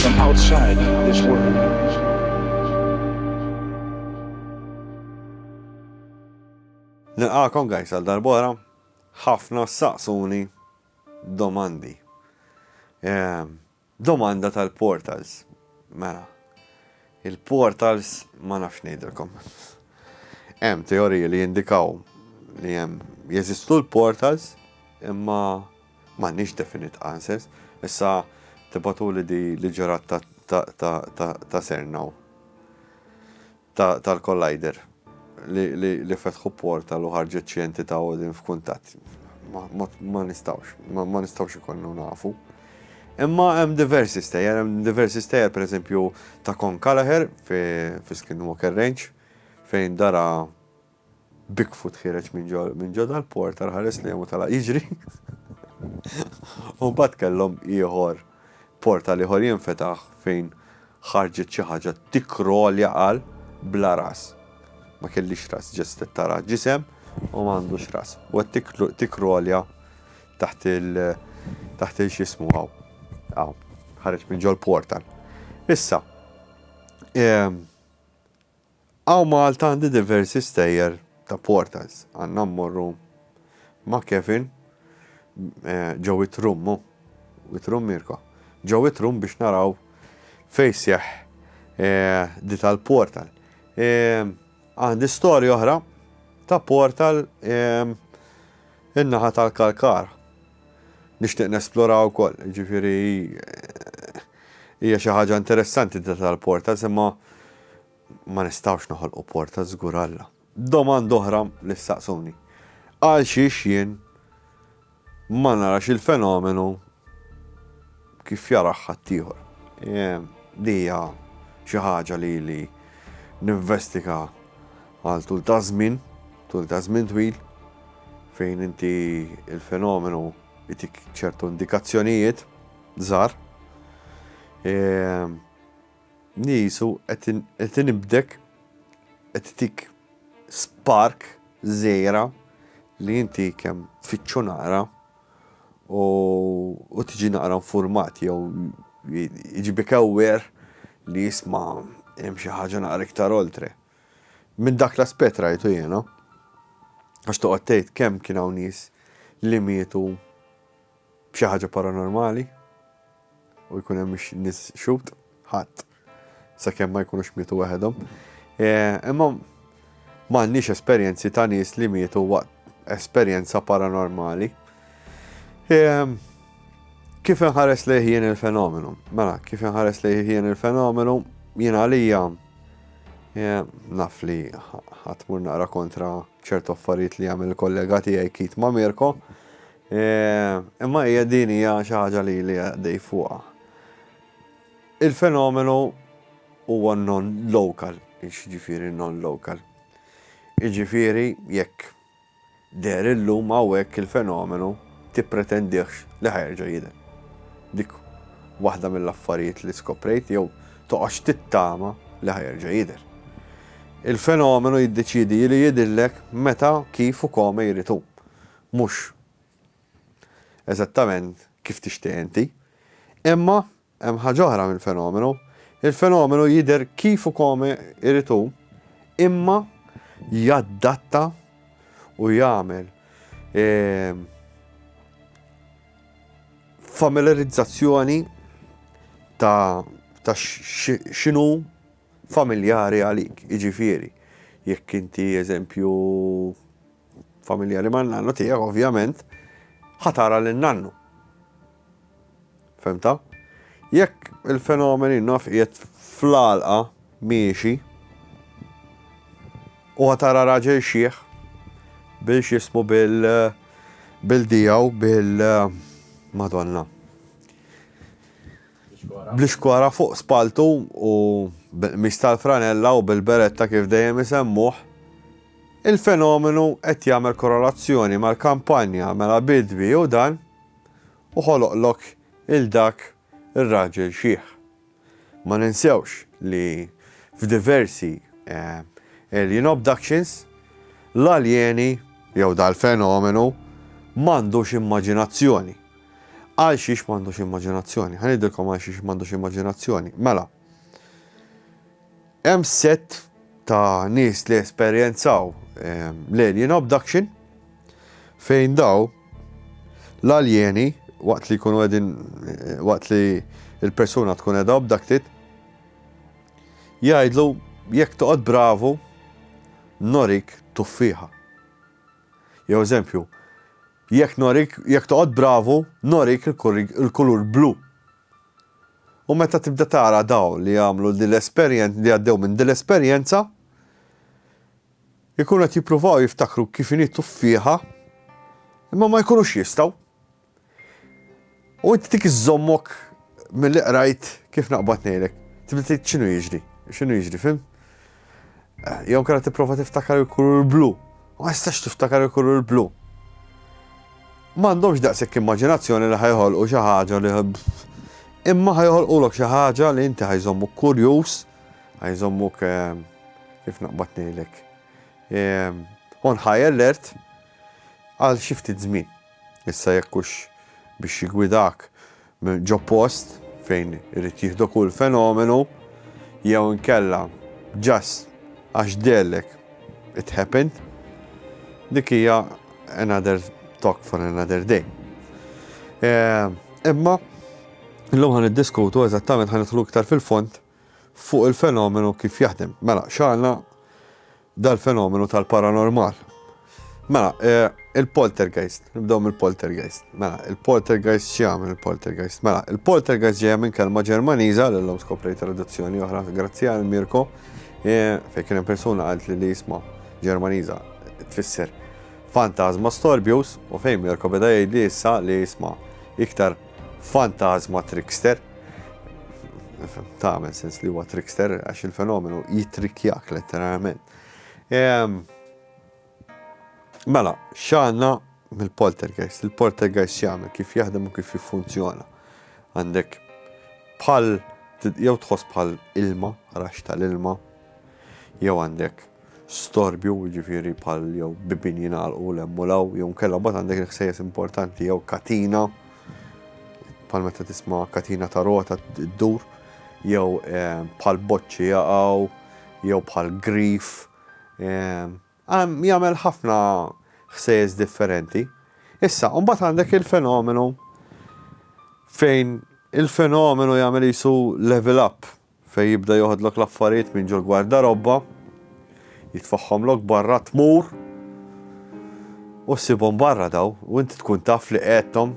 from outside this world. Nilqakom guys għal darbora, ħafna saqsuni domandi. Ehm, domanda tal-portals. Mela, il-portals ma nafx ngħidilkom. Hemm teoriji li jindikaw li hemm jeżistu l-portals imma M'għandniex definite answers. Issa tibgħatuli di li ġrat ta' Cernow. Tal-collider li fetħu portal u ħarġet xi entità u din f'kuntatt. Ma nistgħux, ma nistgħux ikollu nafu. Imma hemm diversi stejjer, hemm diversi stejjer pereżempju ta' Con Callagher fi Skinwalker Range fejn dara Bigfoot ħiereġ minn ġo dal-portal ħares lejhom u tala' jiġri. U mbagħad kellhom ieħor portal ieħor jinfetaħ fejn ħarġet xi ħaġa tikkrolja għal bla ras. Ma kellix ras, ġest qed tara ġisem u m'għandux ras. U qed tikkrolja taħt il taħt il x'ismu hawn. Hawn, ħareġ minn ġol portal. Issa, ehm, Hawn Malta għandi diversi stejjer ta' portals. Għandna mmorru ma' Kevin ġo It-Trum, hu? It-Trum Mirko? Ġo It-Trum biex naraw fejn sseħħ di tal-portal. Għandi storja oħra ta' portal in-naħa tal-Kalkara. nixtieq nesplora wkoll. Jiġifieri hija xi ħaġa interessanti din tal-portals imma ma nistgħux noħolqu portals żgur Alla. Domanda oħra li ssaqsuni. Għalxiex jien ma narax il-fenomenu kif jarah ħaddieħor. Din hija xi ħaġa li ili ninvestiga għal tul ta' żmien, tul ta' żmien twil, fejn inti l-fenomenu jtik ċertu indikazzjonijiet żgħar. Nisu qed inibdek qed tik spark żgħira li inti kemm tfittxu nara. u tiġi naqra infurmat jew jġibik aware li jisma' hemm xi ħaġa naqra iktar oltre. Minn dak l-aspett rajtu jiena. Għax toqgħod tgħid kemm kien hawn nies li mietu b'xi ħaġa paranormali. u jkun hemm nis xut, ħadd, sakemm ma jkunux mietu waħedhom. E, imma m'għandniex esperjenzi ta' nies li mietu waqt esperjenza paranormali. E, kif inħares li jien il-fenomenu? Mela, kif inħares li jien il-fenomenu? Jien għalija e, naf li ħatmur naqra kontra ċertu affarijiet li għamil kollega tiegħi Kit ma' Mirko, Imma hija din hija xi ħaġa li li għaddej fuqha. Il-fenomenu huwa non-local, ġifieri non-local. Iġifieri jekk deher illum hawnhekk il-fenomenu tippretendihx li ħajerġa' jidher. Dik waħda mill-affarijiet li skoprejt jew toqgħodx tittama li ħajerġa' jidher. Il-fenomenu jiddeċiedi li jidhirlek meta, kif u kome jrid hu. Mhux eżattament kif tixtieq inti. Imma hemm ħaġa oħra mill-fenomenu, il-fenomenu jidher kif u kome jrid hu imma jaddatta u jagħmel familiarizzazzjoni ta' x'inhu familjari għalik. Jiġifieri, jekk inti eżempju, familjari man-nannu tiegħek ovvjament ħa tara lil nannu. Femta? Jekk il-fenomeni naf qiegħed fl-għalqa miexi u ħa tara raġel xieħ bil xismu bil bil dijaw bil madonna. Bl-iskora fuq spaltu u mistal franella u bil-beretta kif dejjem isemmuh Il-fenomenu qed jagħmel korrelazzjoni mal-kampanja Mela Bidwi hu dan u ħoloqlok il dak ir-raġel xiħ. Ma ninsewx li f'diversi Alien Obductions, l-aljeni, jew dal-fenomenu, m'għandux immaġinazzjoni. Għalxiex m'għandux immaġinazzjoni? Ħa ngħidilkom għalxiex m'għandux immaġinazzjoni. Mela. Hemm sett ta' nies li esperjenzaw l-alien abduction fejn daw l-aljeni waqt li jkunu qegħdin waqt li l-persuna tkun qiegħda abducted jgħidlu jekk toqgħod bravu norik tuffieħa. Jew eżempju, jekk norik jekk toqgħod bravu norik il-kulur blu. U meta tibda tara dawn li għamlu din l-esperjen, li għaddew minn din l-esperjenza, ikunu qed jippruvaw jiftakru kif inhi tuffieħa, imma ma jkunux jistgħu. U inti dik iżżommok milli qrajt kif naqbad ngħidlek. Tibda tgħid x'inhu jiġri, x'inhu jiġri, fim? Jew kera tipprova tiftakar il-kulur blu. U ma jistax tiftakar il-kulur blu. M'għandhomx daqshekk immaġinazzjoni li ħajħolqu xi ħaġa li imma ħajħolqulok xi ħaġa li inti ħajżommuk kurjuż, ħajżommuk ehm, kif naqbad ngħidlek. Ehm, on high alert għal xi ftit żmien. Issa jekkux biex jigwidak Ġo post fejn irid jieħdok hu l-fenomenu jew inkella just għax dehllek it happened, dik hija another talk for another day. Imma illum ħa niddiskutu eżattament ħa nidħlu iktar fil-fond fuq il-fenomenu kif jaħdem. Mela, x'għandna dal-fenomenu tal-paranormal. Mela, il-poltergeist, nibdew mill-poltergeist. Mela, il-poltergeist x'jagħmel il-poltergeist? Mela, il-poltergeist ġejja minn kelma Ġermaniża li llum skoprejt traduzzjoni oħra grazzi għal Mirko fejn kien hemm persuna għalt li li jisma' Ġermaniża tfisser fantasma storbjus u fejn Mirko beda jgħidli issa li jisma' iktar Fantażma trickster. Tagħmel sens li huwa trickster għax il-fenomenu jitrikkjak letteralment. Ehm, mela, x'għandna mill-poltergeist? Il-poltergeist x'jagħmel, kif jaħdem u kif jiffunzjona. Għandek bħal jew tħoss bħal ilma, rax tal-ilma, Jew għandek storbju, jiġifieri bħal jew bibien jingħalqu l hemm u l hawn, jew inkella mbagħad għandek il-ħsejjes importanti jew katina, bħal meta tisma' katina ta' rota ddur, jew eh, bħal boċċi jaqgħu, jew bħal grif. Eh, jagħmel ħafna ħsejjes differenti. Issa, mbagħad għandek il-fenomenu fejn il-fenomenu jagħmel jisu level up, Fejn jibda joħodlok l-affarijiet minn ġo l-gwardarobba, jitfagħhomlok barra, tmur u ssibhom barra daw u inti tkun taf li qegħedthom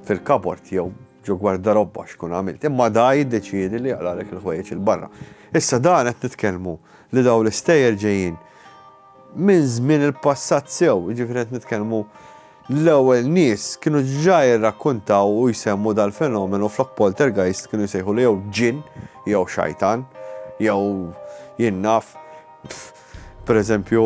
fil-kabord jew ġo gwardarobba x'tkun għamilt. Imma da jiddeċiedi li jaqlagħlek il-ħwejjeġ 'il barra. Issa dan qed nitkellmu li dawn l-istejjer ġejjin Minn żmien il-passat sew, jiġifieri qed nitkellmu l-ewwel nies kienu ġa jirrakkuntaw u jsemmu dal-fenomenu flok poltergeist kienu jsejħulu jew ġinn jew xajtan jew jien naf pereżempju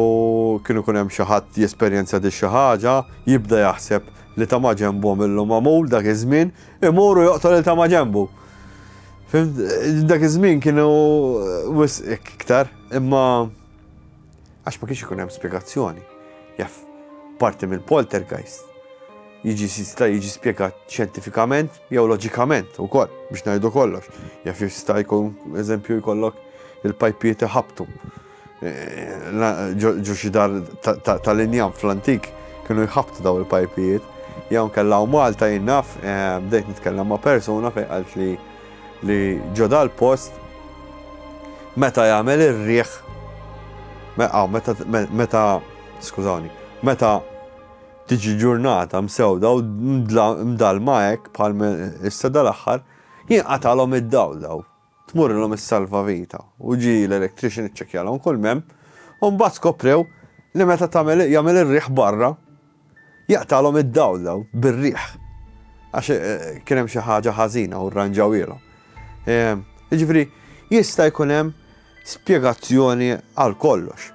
kien ikun hemm xi ħadd jesperjenza di xi ħaġa jibda jaħseb li ta' ma' ġenbhom illum magħmul dak iż-żmien imur u joqtol il ta' ma' ġenbu. Dak iż-żmien kienu wisq iktar imma għax ma kienx ikun hemm spjegazzjoni. Jaf parti mill-poltergeist jiġi jista' jiġi spjegat xjentifikament jew loġikament ukoll biex ngħidu kollox. Jaf jista' jkun eżempju jkollok il-pajpiet iħabtu. Eh, ġo xi dar tal-injam fl-antik kienu jħabtu daw il-pajpijiet. Jew nkella u Malta jinnaf eh, bdejt nitkellem ma' persuna fejn qalt li li ġo dal-post meta jagħmel ir-riħ meta meta skużawni, meta tiġi ġurnata msewda u mdallma hekk bħal issa dal-aħħar, jinqatalhom id-dawl daw. Tmurrilhom is-salvavita u ġi l-electrician iċċekkjalhom kull m'hemm u mbagħad skoprew li meta tagħmel jagħmel ir-riħ barra Jaqtagħlhom id-dawl dawn bir-riħ għax kien hemm xi ħaġa ħażina u rranġawhielhom. Ehm, jiġifieri jista' jkun hemm spjegazzjoni għal kollox.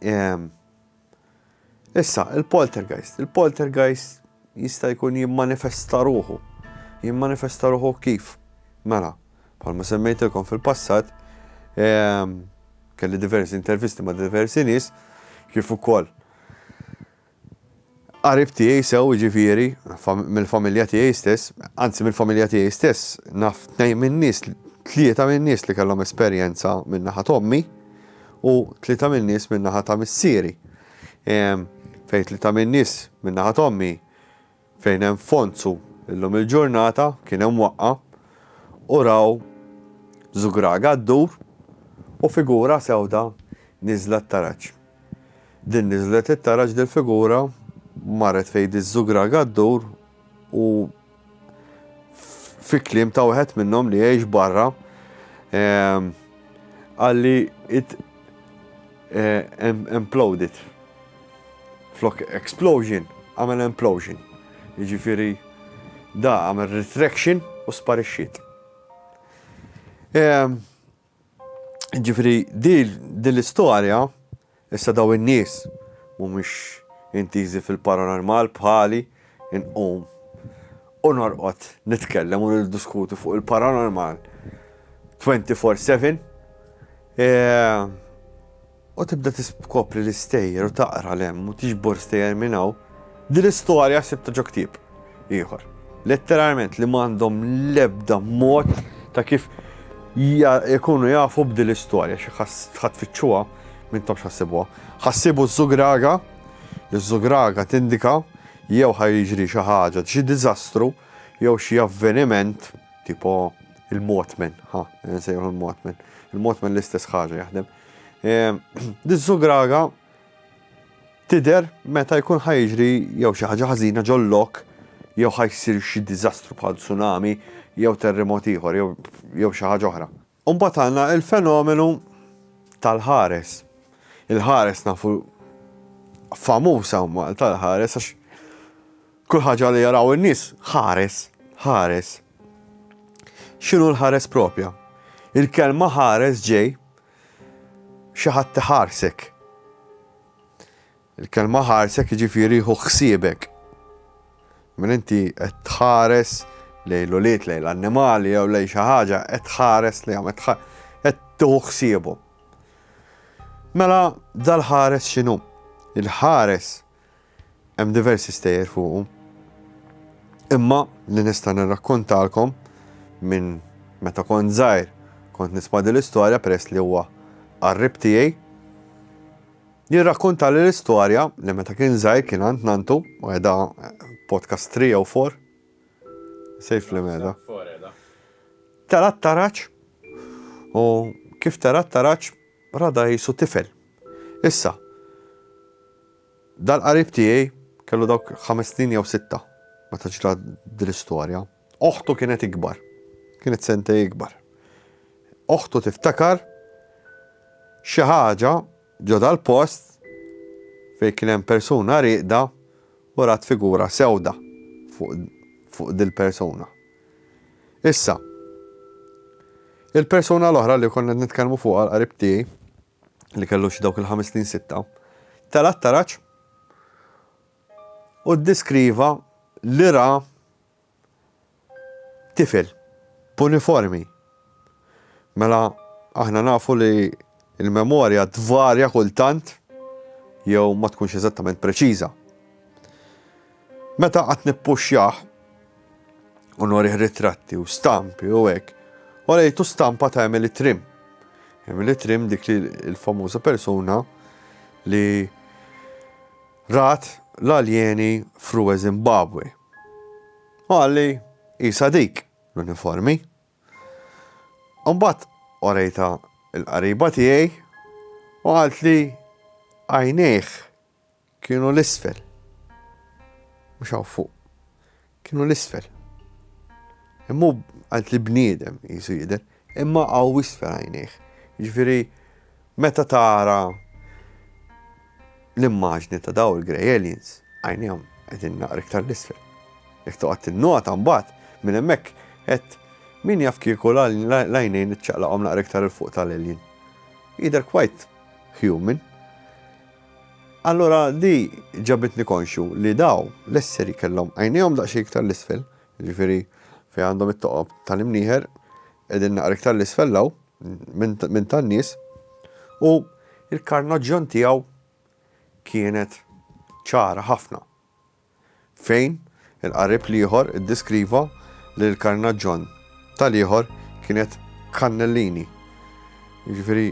Ehm, issa, il-poltergeist. Il-poltergeist jista' jkun jimmanifesta ruħu. Jimmanifesta ruħu kif? Mela, bħalma semmejtilkom fil-passat, ehm, kelli diversi intervisti ma' diversi nies, kif ukoll Qarib tiegħi sew jiġifieri mill-familja tiegħi stess, anzi mill-familja tiegħi stess, naf tnejn min-nies, tlieta min-nies li kellhom esperjenza minn naħa tommi u tlieta min-nies minn naħa ta' missieri. Ehm, fejn tlieta min-nies minn naħa tommi Fejn hemm fonzu illum il-ġurnata kien hemm waqqa u raw zugraga ddur u figura sewda niżla t-taraġ. Din niżlet it-taraġ dil-figura marret fejn diż-zugraga ddur u fi kliem ta' wieħed minnhom li jgħix barra qalli it imploded. Flok explosion, għamel implosion. Jiġifieri da għamel retraction u sparixxiet. Ehm, jiġifieri din l-istorja issa daw in-nies mhumiex intiżi fil-paranormal bħali inqum u norqod nitkellem u niddiskuti fuq il-paranormal 24/7. Eh, u tibda tiskopri l-istejjer u taqra 'l hemm u tiġbor stejjer minn hawn, din l-istorja sibtha ġo ktieb ieħor. Letteralment li m'għandhom l-ebda mod ta' kif jkunu jafu b'din l-istorja xi ħadd tfittxuha m'intomx ħassibuha. Ħassibu ż-żugraga, iż-żugraga tindika jew ħa jiġri xi ħaġa, xi diżastru jew xi avveniment tipo il-motmen, ħa, nsejħu il-motmen. Il-motmen l-istess ħaġa jaħdem. Diż-żugraga tidher meta jkun ħajġri jew xi ħaġa ħażina ġol-lok jew ħajsir xi diżastru bħal tsunami jew terremot ieħor jew xi ħaġa oħra. U mbagħad għandna l-fenomenu tal-ħares. Il-ħares nafu famuż hawn Malta l-ħares għax Kull ħaġa li jaraw in-nies, ħares, ħares. X'inhu l-ħares proprja? Il-kelma ħares ġej xi ħadd iħarsek. Il-kelma ħarsek jiġifieri hu ħsiebek. Minn inti qed tħares lejn l-ulied, lejn l-annimali jew lejn xi ħaġa, qed tħares li għamet qed tuħu ħsiebu. Mela dal-ħares x'inhu? Il-ħares Hemm diversi stejjer fuqu. Imma li nista' nirrakkontalkom minn meta kont żgħir kont nisma' din l-istorja peress li huwa qarrib tiegħi. Jien rrakkontali l-istorja li meta kien żgħir kien għand nanntu, u qiegħda podcast three jew four? Safe li meda. Tela' t-taraġ u kif tela' t-taraġ ra dgħajsu tifel. Issa, Dal-qarib tiegħi kellu dawk ħames snin jew sitta meta ġrat din l-istorja. Oħtu kienet ikbar. Kienet sentej ikbar. Oħtu tiftakar xi ħaġa ġo dal-post fejn kien hemm persuna rieqda u rat figura sewda fuq dil-persuna. Issa, il-persuna l-oħra li kont qed nitkellmu fuqha l-qarib tiegħi, li kellu xi dawk il-ħames snin sitta, tela' t-taraġ u ddeskriva li ra tifel b'uniformi. Mela aħna nafu li l-memorja tvarja kultant jew ma tkunx eżattament preċiża. Meta qatt nippuxxjah u norih ritratti u stampi u hekk, orejtu stampa ta' Emily Trim. Emily Trim dik li l-famuża persuna li rat l-aljeni f'Rue Zimbabwe. U għalli isa dik l-uniformi. Mbagħad orejta l-qariba tiegħi u qaltli għajnejh Kienu 'l isfel. Mhux hawn fuq. Kienu 'l isfel. Imma hu għand li bniedem qisu jidher, imma hawn isfel għajnejh. Jiġifieri meta tara l-immaġni ta' daw il-grey aliens, għajnejhom qegħdin naqra iktar 'l isfel. Jekk toqgħod tinnota mbagħad minn hemmhekk qed Min jaf kieku l-għajnejn iċċaqlaqhom naqra iktar 'il fuq tal-alien. Jidher quite human. Allura di ġabitni konxju li daw l-esseri kellhom għajnejhom daqsxejn iktar 'l isfel, jiġifieri fejn għandhom it-toqob tal-imnieħer qegħdin naqra iktar 'l isfel 'l hawn minn tan-nies, u l-karnaġġjon tiegħu kienet ċara ħafna. Fejn, il-qarib l-ieħor iddeskriva li l-karnaġġon tal-ieħor kienet kannellini. Jiġifieri,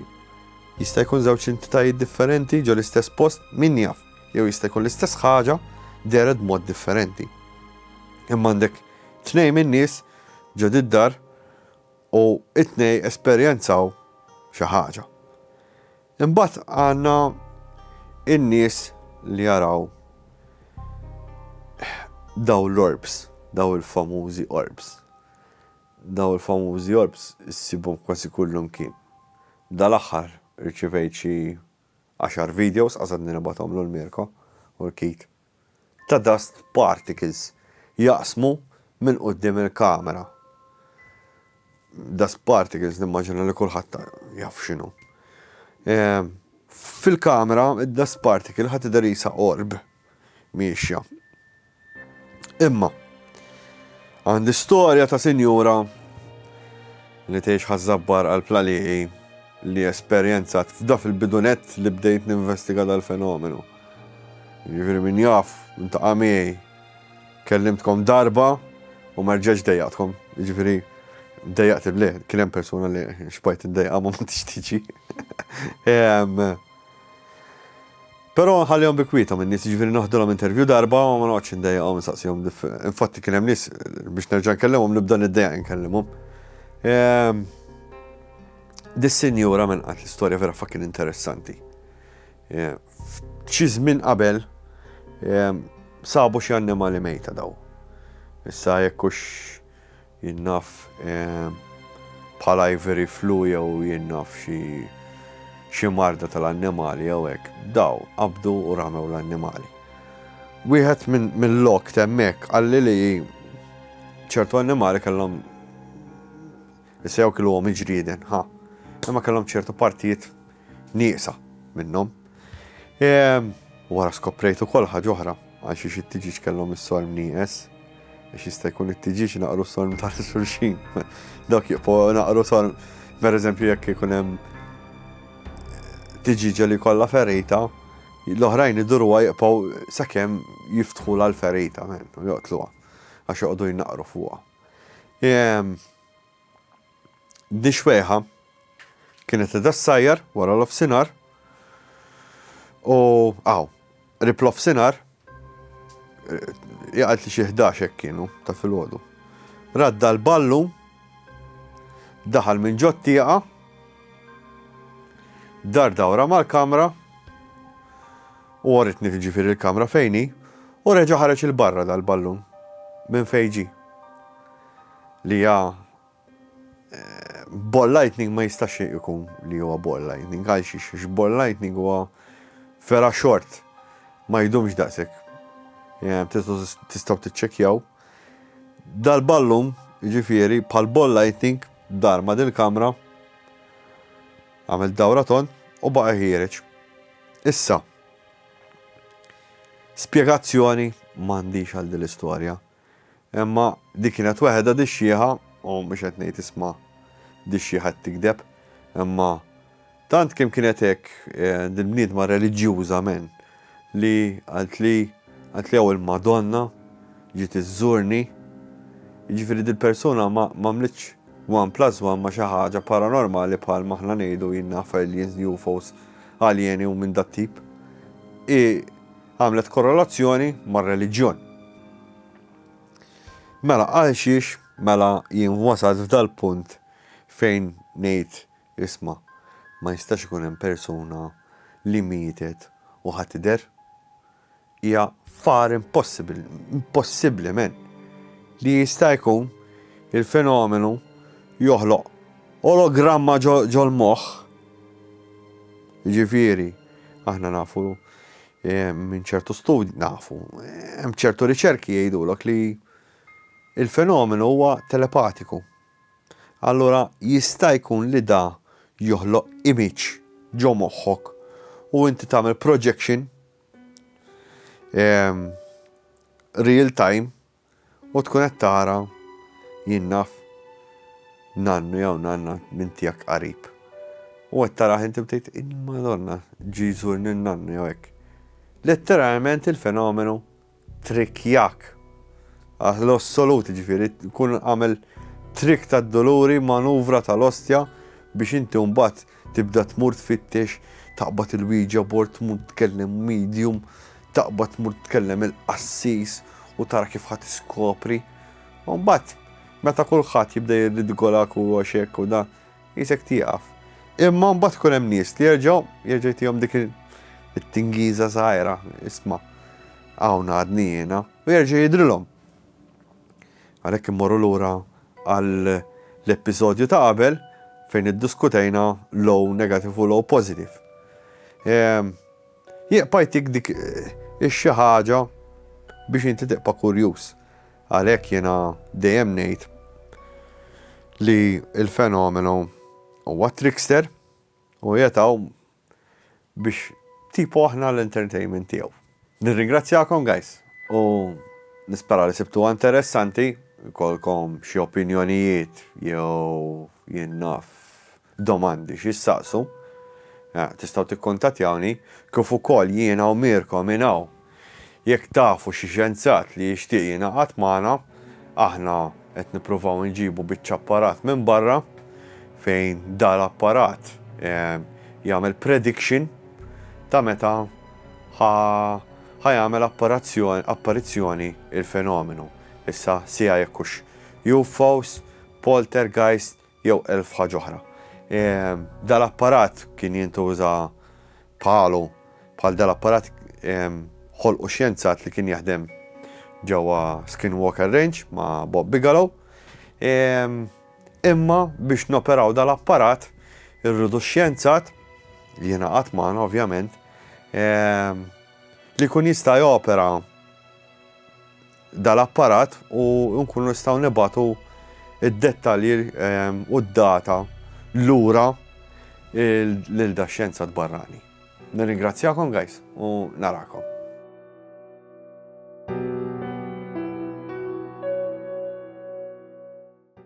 jista' jkun żewġ entitajiet differenti ġo l-istess post, min jaf, jew jista' jkun l-istess ħaġa dehret b'mod differenti. Imma għandek tnejn min-nies ġo did-dar u t-tnejn esperjenzaw xi ħaġa. Imbagħad għandna n-nies li jaraw dawn l-orbs, dawn il-famużi orbs. Dawn il-famużi orbs issibhom kważi kullimkien. Dal-aħħar irċivejt xi għaxar videos, qasadni nibgħathom l-Mirko u l-Keith ta' dust particles jaqsmu minn quddiem il-kamera. Dust particles nimmaġina li kulħadd jaf x'inhu. Fil-kamera id-dust particle ħa tidher qisha orb miexja. Imma għandi storja ta' sinjura li tgħix ħażabbar għal plaliqi li esperjenzat f'da fil-bidunet li bdejt ninvestiga dal-fenomenu. Jiġifieri min jaf, intaqa' miegħi, kellimtkom darba u ma rġajtx dejjaqtkom. Jiġifieri dejjaqt il kien hemm persuna li xbajt iddejqa ma ma tixtiġi. Però nħallihom bi kwietom in-nies, jiġifieri noħdilhom intervju darba u ma noqgħodx indejjaqhom insaqsihom. Infatti kien hemm nies biex nerġa' nkellimhom nibda niddejjaq inkellimhom. Dis-sinjura minn qatt l-istorja vera fucking interessanti. F'xi żmien qabel sabu xi annimali mejta daw. Issa jekk hux jien naf bħal ivory flu jew jien naf xi marda tal-annimali jew hekk, daw qabdu u ramew l-annimali. Wieħed mill-lok t'hemmhekk qalli li ċertu annimali kellhom issa jew kiluhom il-ġrieden, ħa, imma kellhom ċertu partijiet nieqsa minnhom. Ehm, wara skoprejt ukoll ħaġa oħra għal xi xi tiġiġ kellhom is-sorm nieqes. Biex jista' jkun it-tiġiġ naqru sorm ta' xulxin. Dak jibqgħu naqru sorm, per eżempju jekk ikun hemm eh, tiġiġa li kollha ferita, l-oħrajn idurwa jibqgħu sakemm jiftħu l-ferita, joqtluha, għax joqogħdu jnaqru fuqha. Ehm, Di xwejħa kienet qiegħda ssajjar wara l-ofsinhar u aw, qrib l-ofsinhar, hija qalt li xi ħdax hekk kienu ta' filgħodu. Radda l-ballu, daħal minn ġo t-tieqa, dar dawra mal-kamra u għoritni tiġifieri il-kamra fejni u reġa' ħareġ il-barra dal-ballun minn fejn ġie. li hija ball lightning ma jistax ikun li huwa ball lightning għal xiex għax ball lightning huwa vera xort ma jdumx daqshekk. Tistgħu tiċċekkjaw. Dal-ballum, ġifieri, bħal ball lightning dar ma' dil-kamra għamel dawra ton u baqa' ħiereġ. Issa, spjegazzjoni m'għandix għal din l-istorja. Imma din kienet weħda dixxieħa, u mhux qed ngħid isma' dixxieħa qed tigdeb, imma tant kemm kienet hekk dil-bniedma reliġjuża men, li qaltli, qaltli hawn il-Madonna ġiet iżżurni, jiġifieri dil-persuna ma għamlitx one plus one ma' xi ħaġa paranormali bħal ma aħna ngħidu jien naf aliens, UFOs, aljeni u minn dat-tip. Hi Għamlet korrelazzjoni mar-reliġjon. Mela għalxiex mela jien wasalt f'dal-punt fejn ngħid isma' ma jistax ikun hemm persuna li mietet u ħa tidher? Hija far impossibbli, impossibbli men, li jista' jkun il-fenomenu joħloq ologramma ġol-moħħ. Jiġifieri, aħna nafu Minn ċertu studji nafu, hemm ċertu riċerki jgħidulok li il-fenomenu huwa telepatiku. Allura jista' jkun li da joħloq image ġo moħħok u inti tagħmel projection real time U tkun qed tara, jien naf nannu jew nanna minn tiegħek qarib. U qed tarah inti u tgħid, il-Madonna ġie jżurni n-nannu jew hekk. Letteralment il-fenomenu trickjak għal l-assolut, jiġifieri tkun għamel trick tad-duluri, manuvra tal-ostja biex inti mbagħad Tibda tmur tfittex, taqbad il-wieġa bord, tmur tkellem medium, taqbad tmur tkellem il-qassis u tara kif ħa tiskopri. U mbagħad meta kulħadd jibda jirridgolak u għax hekk u dan, qisek tieqaf. Imma mbagħad ikun hemm nies li jerġgħu jerġa' jtihom dik it-tingiża żgħira, isma' hawn għadni jiena, u jerġa' jidhrilhom. Għalhekk immorru lura għall-episodju ta' qabel fejn iddiskutejna l-O negative u l-O positive. Ehm, jieqpa' jtik dik ix-xi ħaġa biex inti tiqpa' kurjuż. Għalhekk jiena dejjem ngħid li l-fenomenu huwa trickster u jetaw biex tipo aħna l-entertainment tiegħu. Nirringrazzjakom guys u nispera li sibtuha interessanti, ikollkom xi opinjonijiet jew jien naf domandi xi ssaqsu, tistgħu tikkuntattjawni kif ukoll jiena u Mirko minn hawn Jekk tafu xi xjenzat li jixtieq jingħaqad magħna, aħna qed nippruvaw inġibu biċċa apparat minn barra fejn dal-apparat jagħmel prediction ta' meta ħa ħa jagħmel apparazzjoni apparizzjoni il-fenomenu. Issa sija jekk hux UFOs, poltergeist, jew elf ħaġa oħra. Dal-apparat kien jintuża bħalu, bħal dal-apparat ħolqu xjenzat li kien jaħdem ġewwa Skinwalker Range ma' Bob Bigelow. Imma biex noperaw dal-apparat irridu xjenzat li jiena qatt magħna ovvjament li kun jista' jopera dal-apparat u nkunu nistgħu nibagħtu d-dettalji u d-data lura lil dax-xjenzat barrani. Nirringrazzjakom guys u narakom.